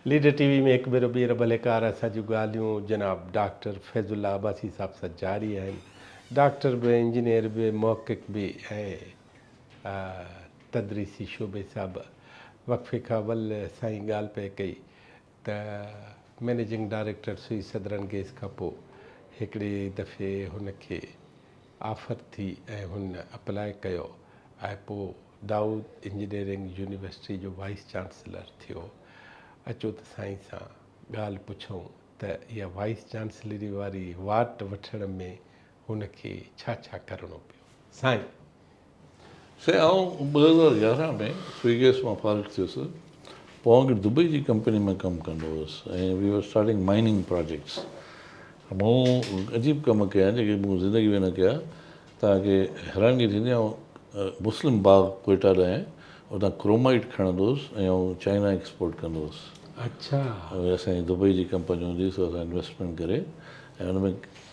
Leader T V ۾ هڪ ڀيرو ٻيهر ڀليڪار اسان جون ڳالهيون جناب ڊاڪٽر فيض الله عباسي صاحب سان جاري آهن ڊاڪٽر به انجنيئر به محقق به ۽ تدريسي شعبي سان به وقفي کان اول سائين ڳالهه پئي ڪئي ته managing director Sui southern gas کان پوء هڪڙي دفعي هن کي آفر ٿي ۽ هن اپلاء ڪيو ۽ پوء دائود انجنيئرنگ يونيورسٽي جو وائيس چانسلر ٿيو. اچو ته سائين سان ڳالهه پڇون ته اها وائيس چانسلري واري واٽ وٺڻ ۾ هن کي ڇا ڇا ڪرڻو پيو سائين؟ سائين آئون ٻه هزار يارهن ۾ سوئي گئس مان فارغ ٿيس پوء اڳ دبئي جي ڪمپني ۾ ڪم ڪندو هوس ۽ V R starting mining projects مون عجيب ڪم ڪيا آهن جيڪي مون زندگي ۾ نه ڪيا توهان کي حيرانگي ٿيندي آئون مسلم باغ ڪوئيٽا ڏانهن اتان ڪرومائيٽ کڻندو هوس ۽ آئون چائنا ايڪسپورٽ ڪندو هوس اچا اسان جي دبئي جي ڪمپني هوندي سو اسان انويسٽمينٽ ڪري ۽ ان ۾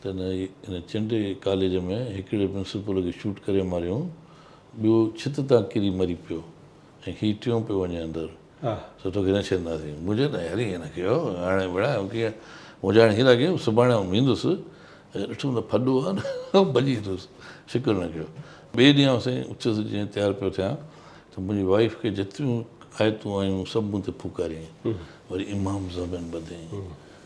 تنهن ان چنڊي ڪاليج ۾ هڪڙي پرنسپل کي شوٽ ڪري ماريائون، ٻيو ڇت تان ڪري مري پيو ۽ هي ٽيون پيو وڃي اندر، سو توکي نه ڇڏينداسين. منهنجي نه يار ائين نه ڪيو، هاڻي ڀيڻا ائين ڪيئن، منهنجا هاڻي هيرا ڪيئن، سڀاڻي آئون ويندس، ڏٺم ته ڦڏو آهي نه، ڀڄي ايندس، فڪر نه ڪيو. ٻئي ڏينهن آئون سائين اٿيس جيئن تيار پيو ٿيان ته منهنجي وائيف کي جيتريون آيتون آيون سڀ مون تي ڦوڪاريائين، وري امام زمان ٻڌيائين،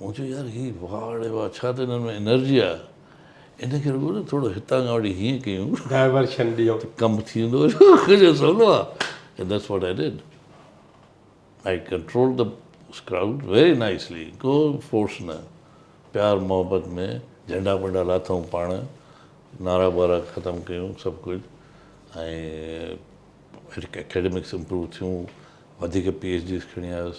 مون چيو يار هي واڙ اي واڙ ڇا ته هنن ۾ انرجي آ ان کي رڳو نه ٿورو هتان کان وٺي هيئن ڪيون Diversion ڏيون ته ڪم ٿي ويندو هن چيو سولو آ And that's what I did I controlled the crowd very nicely ڪو فورس نه پيار محبت ۾ جهنڊا ٻنڊا لاٿائون پاڻ نعرا ٻارا ختم ڪيون سڀ ڪجهه ۽ اڪيڊمڪس امپروو ٿيون وڌيڪ پي ايڇ ڊيز کڻي آيس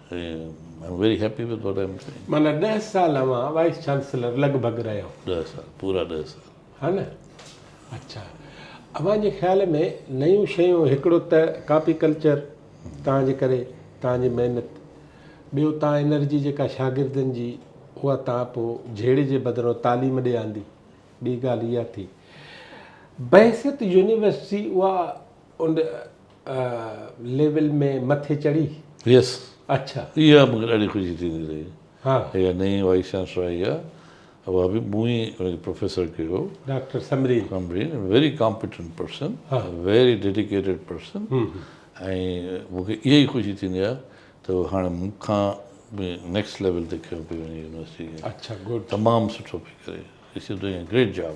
معنيٰ ڏهه سال اوهان وائيس چانسلر لڳ ڀڳ رهيو. ڏهه سال پورا ڏهه سال. ها نه اڇا اوهان جي خيال ۾ نيون شيون هڪڙو ته ڪاپي ڪلچر توهان جي ڪري توهان جي محنت ٻيو توهان انرجي جيڪا شاگردن جي اها توهان پو جهيڙي جي بدران تعليم ڏي آندي ٻي ڳالهه اها ٿي بحيثيت يونيورسٽي اها ان ليول ۾ مٿي چڙهي. يس اڇا اها مونکي ڏاڍي خوشي ٿيندي رهي ها اها نئين وائيس چانسلر آئي آ اها به مون ئي ان کي پروفيسر ڪيو هو doctor Samreen Samreen very competent person very dedicated person ۽ مونکي اها ئي خوشي ٿيندي آ ته هاڻي مون کان به نيڪسٽ ليول تي کيو پي وڃي يونيورسٽي کي اڇا گڊ تمام سٺو پي ڪري it's doing a great job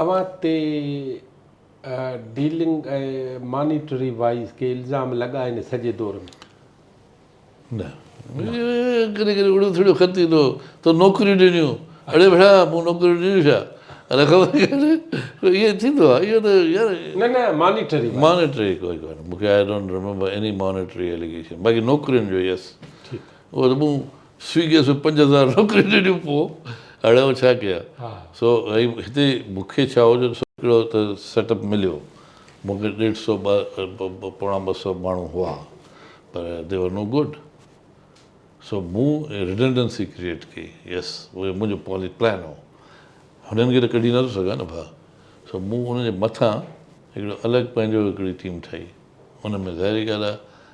اوهان تي ڊيلنگ ۽ مانيٽري وائيز ڪي الزام لڳا آهن سڄي دور ۾؟ نه. ڪڏهن ڪڏهن اڙيو ٿڙيو خط ايندو هو تو نوڪريون ڏنيون اڙي ڀيڙا مون نوڪريون ڏنيون ڇا الاء خبر ڪيڏي ائين ٿيندو آهي اهو ته يار نه نه مانيٽري مانيٽري ڪوئي ڪانه مونکي I don't remember any monetary allegation باقي نوڪرين جو يس ٺيڪ اهو ته مون سوئيگيء سان پنج هزار نوڪريون ڏنيون پوء هاڻي آئون ڇا ڪيان؟ سو ۽ هتي مون کي ڇا هو جو سو هڪڙو ته سيٽ اپ مليو. مون کي ڏيڍ سو ٻه پوڻا ٻه سو ماڻهو هئا پر دي ور نو گڊ. سو مون رڊنڊنسي ڪريئيٽ ڪئي. يس اهو منهنجو پالي پلان هو. هنن کي ته ڪڍي نٿو سگهان نه ڀا. سو مون انهن جي مٿان هڪڙو الڳ پنهنجو هڪڙي ٽيم ٺاهي. ان ۾ ظاهري ڳالهه آهي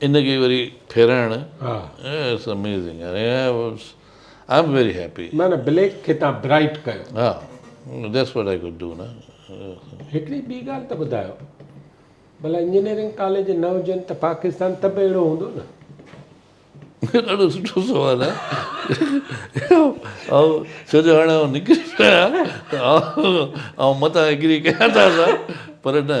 ان کي وري ڦيرائڻ it's amazing I am very happy. نه نه بليڪ کي تان برائيٽ ڪيو. ها that's what I could do نه. هڪڙي ٻي ڳالهه ته ٻڌايو ڀلا انجنيئرنگ ڪاليج نه هجن ته پاڪستان ته به اهڙو هوندو نه. ڏاڍو سٺو سوال آهي آئون ڇو جو هاڻي آئون نڪري پيو آهيان ته آئون متان ايگري ڪيان ٿا سان پر نه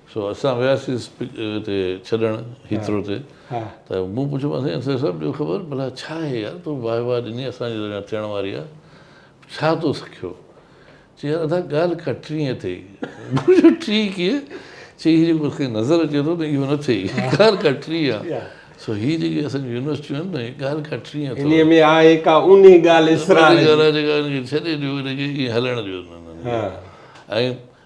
سو اسان وياسين اتي ڇڏڻ هيٿرو تي ته مون پڇيومانس سائين اسير صاحب ڏيو خبر ڀلا ڇا هي يار تو واهه واهه ڏني اسان جي اڃا ٿيڻ واري آ ڇا تو سکيو چي يار ادا ڳالهه ڪا ٽرينء تي مون چيو ٽري ڪيئن چي هي جيڪو اسان کي نظر اچي ٿو نه اهو نه ٿئي ڳالهه ڪا ٽري آ سو هي جيڪي اسان جون يونيورسٽيون آهن نه ڳالهه ڪا ٽرينء تي انهيء ۾ آهي ڪا اونهي ڳالهه اسرار جي ڳالهه آ جيڪا هن کي ڇڏي ڏيو هن کي ائين هلڻ ڏيو ۽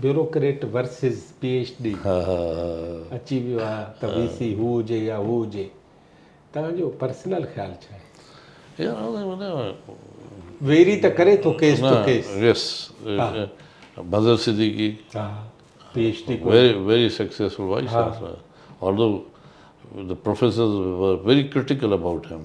bureaucrat versus P H D اچي ويو آهي ته وي سي هو هجي يا هو هجي توهان جو پرسنل خيال ڇا آهي؟ ويري ته ڪري ٿو case to case yes Manzar Siddiqui P H D very very successful vice chancellor although the professors were very critical about him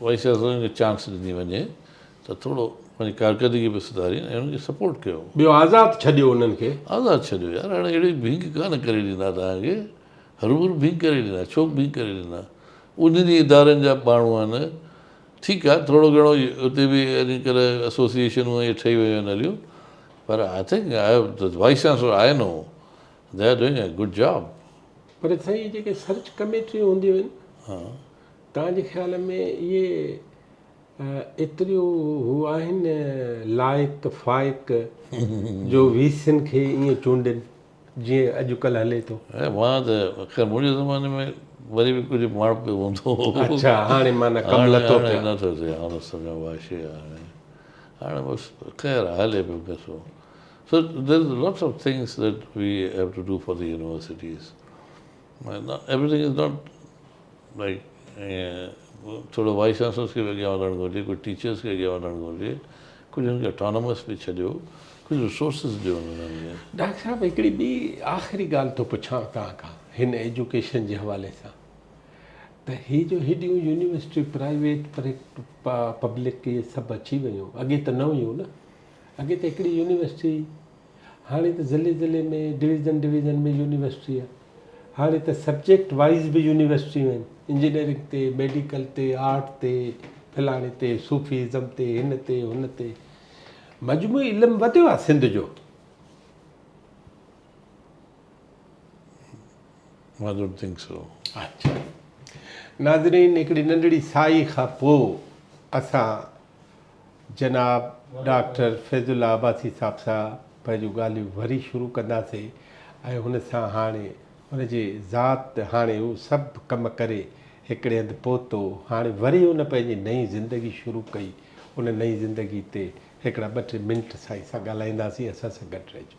vice چانسلرن کي چانس ڏني وڃي ته ٿورو پنهنجي ڪارڪردگي به سڌارين ۽ انهن کي سپورٽ ڪيو. ٻيو آزاد ڇڏيو انهن کي. آزاد ڇڏيو يار هاڻي اهڙي ڀينگ ڪانه ڪري ڏيندا توهان کي هروڀرو ڀينگ ڪري ڏيندا ڇو ڀينگ ڪري ڏيندا انهن ئي ادارن جا ماڻهو آهن ٺيڪ آهي ٿورو گهڻو اتي به اڄ ڪلهه اسوسيئيشنون ائين ٺهي ويون آهن هليون پر I think I vice chancellor I know they are doing a good job. پر سائين جيڪي سرچ ڪميٽيون هونديون آهن. توهان جي خيال ۾ اهي ايتريون هو آهن لائق فائق جو وي سين کي ائين چونڊين جيئن اڄڪلهه هلي ٿو. مان ته خير منهنجي زماني ۾ وري به ڪجهه ماڻهپي هوندو هو. اڇا هاڻي معنيٰ ڪم لٿو پيو. هاڻي نه ٿو ٿئي هاڻ سمي واشي آهي هاڻي بس خير آهي هلي پيو قصو so there is lots of things that we have to do for the universities. Doctor صاحب هڪڙي ٻي آخري ڳالهه ٿو پڇان توهان کان هن ايجوڪيشن جي حوالي سان ته هي جو هيڏيون يونيورسٽيون پرائيويٽ پبلڪ اهي سڀ اچي ويون اڳي ته نه هيون نه اڳي ته هڪڙي يونيورسٽي هاڻي ته ضلعي ضلعي ۾ ڊويزن ڊويزن ۾ يونيورسٽي آهي هاڻي ته سبجيڪٽ وائيز به يونيورسٽيون آهن انجنيئرنگ تي ميڊيڪل تي آرٽ تي فلاڻي تي صوفي ازم تي هن تي هن تي مجموعي علم وڌيو آهي سنڌ جو ناظرين هڪڙي ننڍڙي سائي کان پوء اسان جناب ڊاڪٽر فيض الله عباسي صاحب سان پنهنجون ڳالهيون وري شروع ڪنداسين ۽ هن سان هاڻي هن جي ذات هاڻي هو سڀ ڪم ڪري هڪڙي هنڌ پهتو هاڻي وري هن پنهنجي نئين زندگي شروع ڪئي ان نئين زندگي تي هڪڙا ٻه ٽي منٽ سائين سان ڳالهائينداسين اسان سان گڏ رهجو.